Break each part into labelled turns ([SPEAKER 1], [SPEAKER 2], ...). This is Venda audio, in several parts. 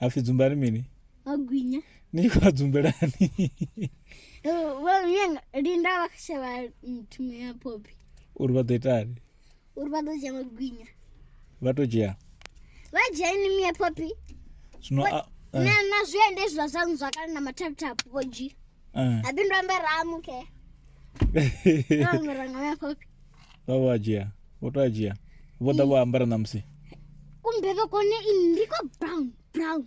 [SPEAKER 1] hapfi dzumba
[SPEAKER 2] ri mini o gwinya
[SPEAKER 1] ni khou dzumbelani
[SPEAKER 2] vhoyanga
[SPEAKER 1] linda vha shavha thumo ya popi uri vha ḓo itani
[SPEAKER 2] uri vha ḓo dzhia
[SPEAKER 1] magwinya vha tou dzhia
[SPEAKER 2] vha dzhia
[SPEAKER 1] ini miya popi zwino
[SPEAKER 2] a- eh, na na zwiende
[SPEAKER 1] zwa zwangu zwa kale na mathaputhapu vho dzhia eh. abindu ambe ramuke ambe ranga miya popi vha vha dzhia
[SPEAKER 2] vho to a dzhia vho ḓa vho ambara na musi kumbe vha
[SPEAKER 1] kone i ndi kwa brown brown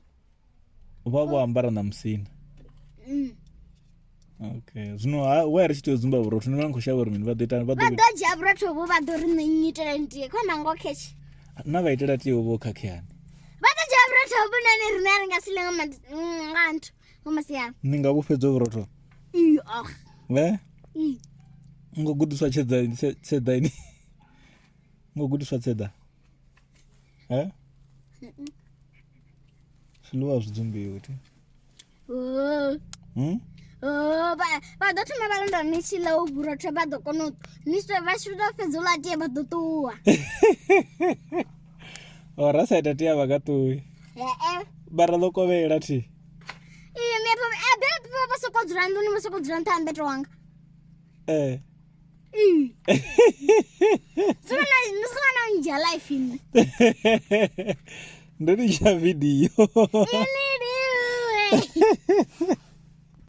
[SPEAKER 1] vha
[SPEAKER 2] vho ambara na musina mm. okay zwino wa ri tshi tea u dzumba vhurotho ni vha ni khou shavha uri mini vha ḓo ita vha ḓo dzhia vhurotho
[SPEAKER 1] vho vha ḓo ri nṋe nnyitela ntie khona ngo khetshi na vha itela
[SPEAKER 2] tie vho khakheani vha ḓo dzhia
[SPEAKER 1] vhurotho vhunani rine a ri nga si lenga nga nthu ni nga vhufhedzo vhurotho vhe
[SPEAKER 2] ngo gudiswa tshedza ini ngo gudiswa tshedza he zwiḽiwa zwi dzumbiwi thi hmm?
[SPEAKER 1] vha ḓo thoma vha londa ni tshi ḽa u vhurotho vha ḓo kona u ni vha tshi tou fhedza u ḽa tie vha ḓo ṱuwa
[SPEAKER 2] o ra sa ita tea vha ka ṱuwi vha ra ḓo kovhela thi iye
[SPEAKER 1] mbepo abepo vha soko dzula nḓuni vha soko dzula nṱha ha mbeto wanga ee sona nja life ini
[SPEAKER 2] ndo litsha vidiyo